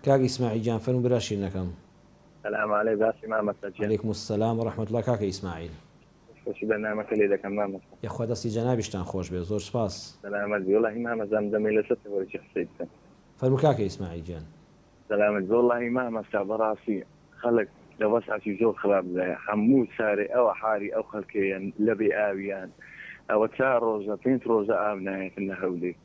کاک ئیسماعیل گیان فەرموو برا شیرنەکەم. سلام علیک بەڕاستی مامۆستا گیان. علیکم السلام و رحمە اللە کاکە ئیسماعیل. دەستخۆشی بەرنامەکە لێ دەکەم مامۆستا. یەخوا دەستی جەنابیشتان خۆش بێت زۆر سوپاس. سەلامەت بی وەڵاهی مامۆستا ئەم دەمەی لەسەر تەوەرکی قسەی بکەم. فەرموو کاکە ئیسماعیل گیان. سەلامەت بی وەڵاهی مامۆستا بەڕاستی خەڵک لە وەزعەکی زۆر خراپ دایە هەموو سارێ ئەوە حالی ئەو خەڵکەیە لە بێ ئاویان ئەوە چار ڕۆژە پێنج ڕۆژە ئاو نایەتن لە هەولێر.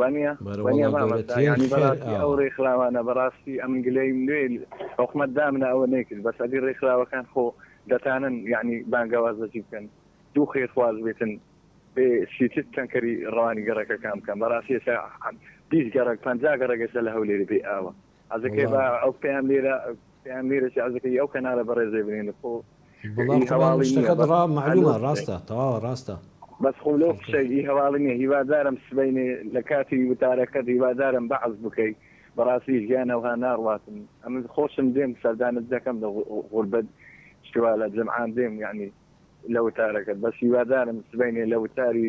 وانیە وانیە مامۆستا یانی بەراستی ئەو رێکخراوانە بەراستی ئەمن گلەیم لێ حکومەت دامنە ئەوە نەیکرد بەس ئەدی رێکخراوەکان خۆ دەتانن یانی بانگەواز لەچی بکەن دوو خێرخواز بێتن ئێ شیتت تەنکەری روانی گەڕەکەکان بکەن بەراستی ئێستا بیست گەڕەک پەنجا گەڕەک ئێستا لە هەولێرێ بێ ئاوە عەزەکەی با ئەو پەیام لێرە پەیام لێرە چی عەزەکەی ئەو کەنالە بەڕێزەی بنێنە خۆ بەڵام ئی خۆ بەڵام هەواڵی نییە شتەکەت بەس ڕا مەعلوومە هەلۆ سبەی ڕاستە تەواوە ڕاستە بەس خۆ لەو خەڵکە قسەی ئی هەواڵی نییە هیوادارم سبەینێ لە کاتی وتارەکەت هیوادارم بەعس بکەی بەڕاستی ژیان ئەوها ناڕواتن ئەمن خۆشم دێم سەردانت دەکەم لە غو- غوربەت شتوا لە جەمعان دێم یەعنی لە وتارەکەت بەس هیوادارم سبەینێ لە وتاری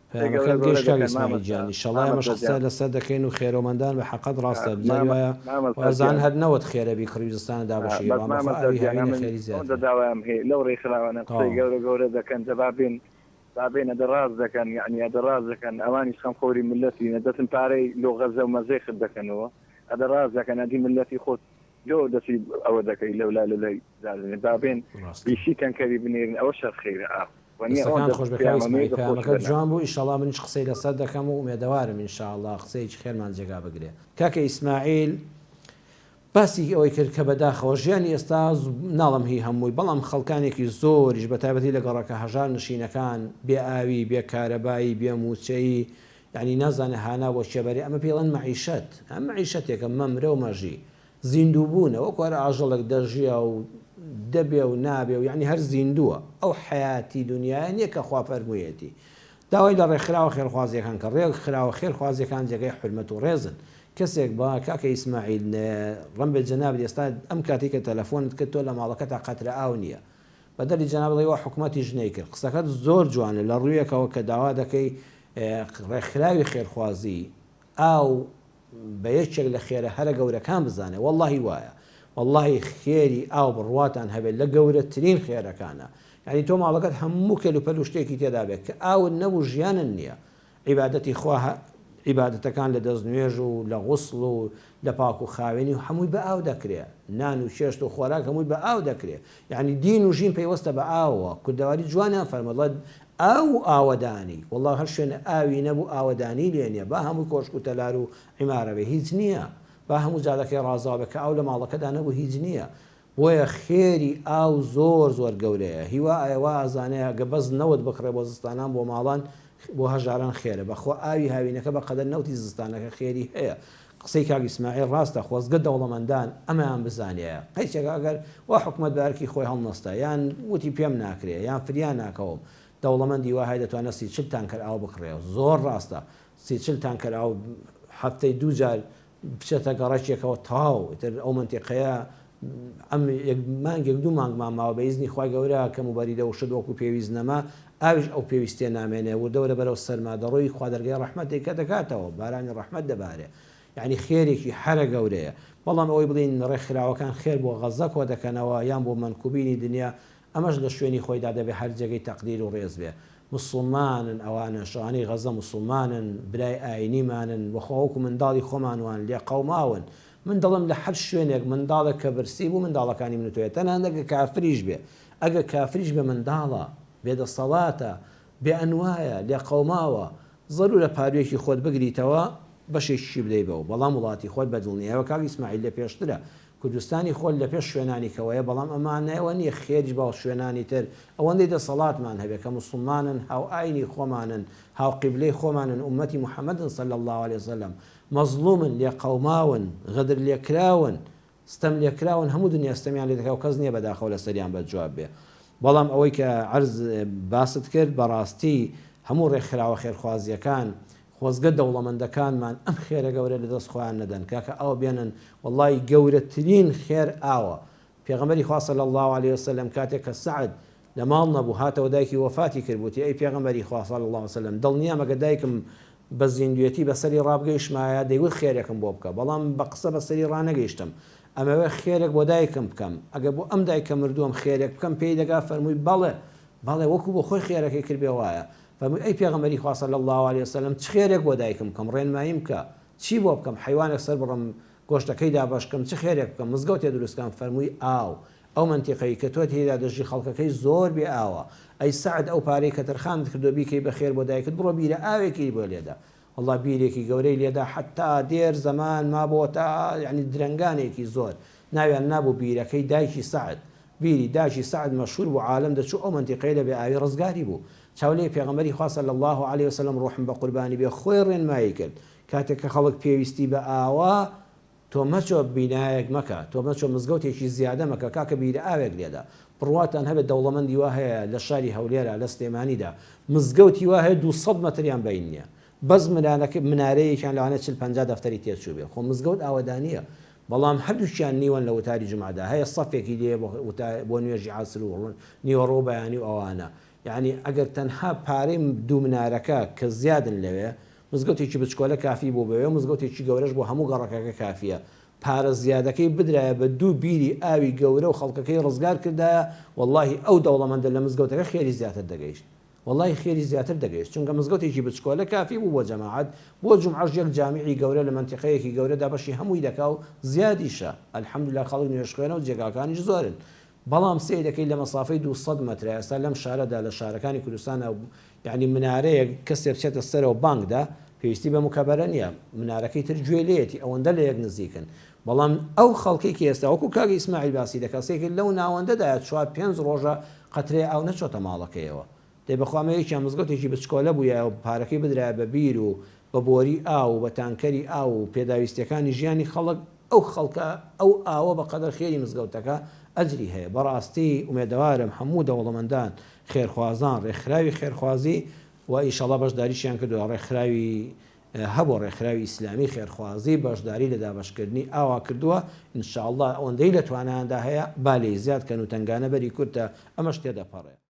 پەیامەکەت گەیشت کاک ئیسماعیل گیان ئیشەڵا ئێمەش قسە لەسەر دەکەین و خێرۆمەندان بە حەقت ڕاستە بزاری وایە وازان هەر نەوەت خێرە بی کڕی و زستانە دابەشی ئێوان بەخوا ئاوی هاوینە خێری زیاترە. تەواو. لۆ دەسی ئەوە دەکەی لەولا لەلای دادەنێ با بێن بیسی تەنکەری بنێرن ئەوە شەر خێرە ئاخ دەستەکانت خۆش بێ کاک ئیسماعیل پەیامەکەت جوان بوو ئیشەڵا منیش قسەی لەسەر دەکەم و ئومێدەوارم ئینشاڵا قسەیەکی خێرمان جێگا بگرێ کاکە ئیسماعیل باسی ئەوەی کرد کە بەداخەوە ژیانی ئێستا ناڵم هی هەمووی بەڵام خەڵکانێکی زۆریش بە تایبەتی لە گەڕەکە هەژار نشینەکان بێ ئاوی بێ کارەبایی بێ مووچەیی یانی نازانێ هانا بۆ کێ بەرێ ئەمە پێی ئەڵێن مەعیشەت ئەم مەعیشەتێکە مەمرە و مەژی زیندوو بوونە وەکو هەر ئاژەڵێک دەژیا و دەبێ و نابێ و یانی هەر زیندووە ئەو حەیاتی دونیایە نیە کە خوا فەرموویەتی داوای لە ڕێکخراوە خێرخوازیەکان کە ڕێک خراوە خێرخوازیەکان جێگەی حورمەت و ڕێزن کەسێک بە کاکە ئیسماعیل ڕەمبێ جەناب ئێستا ئەم کاتی کە تەلەفۆنت کرد تۆ لە ماڵەکە تا قەترە ئاو نییە بەدەری جەنابڵی وە حکوومەتیش نەیکرد قسەکەت زۆر جوانە لە ڕوویەکەوە کە داوا دەکەی ڕێکخراوی خێرخوازی ئاو بە یەکێک لە خێرە هەرە گەورەکان بزانێ وەڵاهی وایە وەڵاهی خێری ئاو بڕواتان هەبێت لە گەورەترین خێرەکانە یعنی تۆ ماڵەکەت هەموو کەل و پەل و شتێکی تێدابێت کە ئاوت نەبوو ژیانن نییە عیبادەتی خوا عیبادەتەکان لە دەست نوێژ و لە غوسڵ و دە پاک و خاوێنی و حەمووی بە ئاو دەکرێ نان و چێشت و خۆراک هەمووی بە ئاو دەکرێ یەعنی دین و ژین پەیوەستە بە ئاوەوە کوردەواری جوانیان فەرمووە دەڵێت ئاو و ئاوەدانی وەڵا هەر شوێنە ئاوی نەبوو ئاوەدانی لێ نیە با هەمووی کۆشک و تەلار و عیمارە بێ هیچ نیە با هەموو جادەکەی ڕازاو بێ کە ئاو لە ماڵەکەدا نەبوو هیچ نیە بۆیە خێری ئاو زۆر زۆر گەورەیە هیوا ئایە وا ئازانێ ئەگە بەس نەوت بکڕێ بۆ زستانان بۆ ماڵان بۆ هەژاران خێرە بەخوا ئاوی هاوینەکە بەقەدەر نەوتی زستانەکە خێری هەیە قسەی کاک ئیسماعیل ڕاستە خۆزگە دەوڵەمەندان ئەمەیان بزانیایە قەیسێک ئەگەر وا حکومەت بە ئەرکی خۆی هەڵنەستا یان وتی پێم ناکرێ یان فریا ناکەوم دەوڵەمەندی وا هەیە دەتوانێ سی چل تانکەر ئاو بکڕێ زۆر ڕاستە سی چل تانکەر ئاو هەفتەی دوو جار بچێتە گەڕەکێکەوە تەواو ئیتر ئەو مەنتیقەیە ئەم یەک مانگێک دوو مانگمان ماوە بە ئیزنی خوای گەورە کەم و بەری لە وشت وەکو پێویست نەما ئاویش ئەو پێویستیە نامێنێ وردەورە بەرەو سەرما دەڕۆی خوا دەرگای ڕەحمەتی کە دەکاتەوە بارانی ڕەحمەت دەبارێ یعنی خێرێکی حەرە گەورەیە بەڵام ئەوەی بڵین ڕێکخراوەکان خێر بۆ غەززە کۆدەکەنەوە یان بۆ مەنکوبینی دنیا ئەمەش لە شوێنی خۆیدا دەبێ هەر جێگەی تەقدیر و ڕێز بێ. موسڵمانن ئەوانەش، ئەوانەی غەزە موسڵمانن، برای ئایینیمانن و خۆ وەکوو منداڵی خۆمان وان، لێ قەوماون. من دڵم لە هەر شوێنێک منداڵێک کە برسی بوو منداڵەکانی من و تۆیە، تەنانەت ئەگەر کافریش بێ. ئەگەر کافریش بێ منداڵە، بێدەسەڵاتە، بێئەنوایە، لێ قەوماوە. زەروورە پاروویەکی خۆت بگریتەوە، بەشێکیشی بدەی بەو، بەڵام وڵاتی خۆت بە دڵنیایەوە کاک ئیسماعیل لە پێشترە. کوردستانی خۆر لە پێش شوێنانی کەوەیە، بەڵام ئەمە مانای ئەوە نییە خێریش بە شوێنانی تر ئەوەندەی دەسەڵاتمان هەبێت کە موسڵمانن، هاوئاینی خۆمانن، هاوقیبلەی خۆمانن، ئوممەتی موحەممەدن صلی اللە علیە وسلم، مەزڵوومن، لێقەوماون، غەدرلێکراون، ستەملێکراون، هەموو دنیا ستەمیان لێ دەکات و کەس نییە بەداخەوە لەسەریان بەدجواب بێت. بەڵام ئەوەی کە عەرز، باست کرد، بەڕاستی هەموو ڕێکخراوە خێرخوازییەکان، خۆزگە دەوڵەمەندەکانمان ئەم خێرە گەورە لە دەست خۆیان نەدەن کاکە ئاو بێنن وەڵایی گەورەترین خێر ئاوە پێغەمبەری خوا صلی اللە علیە وسلم کاتێک کە سەعد لە ماڵ نەبوو هاتەوە دایکی وەفاتی کرد وتی ئەی پێغەمبەری خوا صلی اللە علیە وسلم دڵنیام ئەگەر دایکم بە زیندوێتی بەسەری ڕابگەیشتمایە دەیوت خێرێکم بۆ بکە بەڵام بە قسە بەسەری ڕانەگەیشتم ئەمەوێ خێرێک بۆ دایکم بکەم ئەگەر بۆ ئەم دایکە مردووەم خێرێک بکەم پێی دەگا فەرمووی بەڵێ بەڵێ وەکو بۆ خۆی خێرەکەی کرد بێ وایە فەرمووی، ئەی پێغەمبەری خوا صلی اللە علیە و سلم چ خێرێک بۆ دایکم بکەم، ڕێنماییم بکە، چی بۆ بکەم، حەیوانێک سەربڕم، گۆشتەکەی دابەش بکەم، چ خێرێک بکەم، مزگەوتێ دروست بکەم، فەرمووی، ئاو، ئەو مەنتیقەی کە تۆ تێیدا دەژی خەڵکەکەی زۆر بێ ئاوە، ئەی سەعد ئەو پارەی کە تەرخانت کردووە بیکەی بە خێر بۆ دایکت بڕۆ بیرە ئاوێکی بۆ لێدە، وەڵا بیرێکی گەورەی لێدا حەتا دێر زەمان مابۆ تا یەعنی درەنگانێکی زۆر ناویان نابوو بیرەکەی دایکی سەعد بیری داکی سەعد مەشهور بوو عالەم دەچوو ئەو مەنتیقەیە لە بێ ئاوی ڕزگاری بوو چاو لێی پێغەمبەری خوا صلی اللە علیە وسلم ڕوحم بەقوربانی بێ خۆی ڕێنمایی کرد کاتێ کە خەڵک پێویستی بە ئاوە تۆ مەچۆ بینایەک مەکە تۆ مەچۆ مزگەوتێکی زیادە مەکە کاکە بیرە ئاوێک لێدە بڕواتان هەبێ دەوڵەمەندی وا هەیە لە شاری هەولێرا لە سلێمانیدا مزگەوتی وا هەیە دوو سەد مەتریان بەین نیە بەس منارەکە منارەیەکیان لەوانەیە چل پەنجا دەفتەری تێ چووبێ خۆ مزگەوت ئاوەدانیە بەڵام هەردووکیان نیوەن لە وتاری جومعەدا هەیە سەفێکی لێ بۆ وتا بۆ نوێژی عەسر و نیوەڕۆ و بەیانی و ئەوانە یانی ئەگەر تەنها پارەی دوو منارەکە کە زیادن لەوێ مزگەوتێکی بچکۆلە کافی بوو بەوێ مزگەوتێکی گەورەش بۆ هەموو گەڕەکەکە کافیە پارە زیادەکەی بدرایە بە دوو بیری ئاوی گەورە و خەڵکەکەی ڕزگار کردایە وەڵاهی ئەو دەوڵەمەندە لە مزگەوتەکە خێری زیاتر دەگەیشت وەڵاهی خێری زیاتر دەگەیشت چونکە مزگەوتێکی بچکۆلە کافی بوو بۆ جەماعەت بۆ جومعەش یەک جامیعی گەورە لە مەنتیقەیەکی گەورەدا بەشی هەمووی دەکا و زیادیشە الحمدللە خەڵک نوێژخوێنە و جێگاکانیش زۆرن بەڵام سەیر دەکەی لە مەسافەی دوو سەد مەترە ئێستا لەم شارەدا لە شارەکانی کوردستانا یانی منارەیەک کەسێ بچێتە سەرەوە بانگ دا پێویستی بە مکەبەرە نیە منارەکەی تر گوێ لێیەتی ئەوەندە لە یەک نزیکن بەڵام ئەو خەڵکەی کە ئێستا وەکو کاک ئیسماعیل باسی دەکا سەیرکە لەو ناوەندەدایە چوار پێنج ڕۆژە قەترەی ئاو نەچۆتە ماڵەکەیەوە دەی بەخوا ئەمە یەکیان مزگەوتێکی بچکۆلە بوویایە و پارەکەی بدرایە بە بیر و بە بۆری ئاو و بە تانکەری ئاو و پێداویستیەکانی ژیانی خەڵک ئەو خەڵکە ئەو ئاوە بە قەدەر خێری مزگەوتەکە ئەجری هەیە بەڕاستی ئومێدەوارم هەموو دەوڵەمەندان خێرخوازان ڕێکخراوی خێرخوازی و ئیشەڵا بەشداریشیان کردوە ڕێکخراوی هەبوو ڕێکخراوی ئیسلامی خێرخوازی بەشداری لە دابەشکردنی ئاوا کردوە انشااللە ئەوەندەی لە توانایاندا هەیە با لێی زیاد کەن و تەنگانە بەری کورتە ئەمەش تێدەپەڕێ.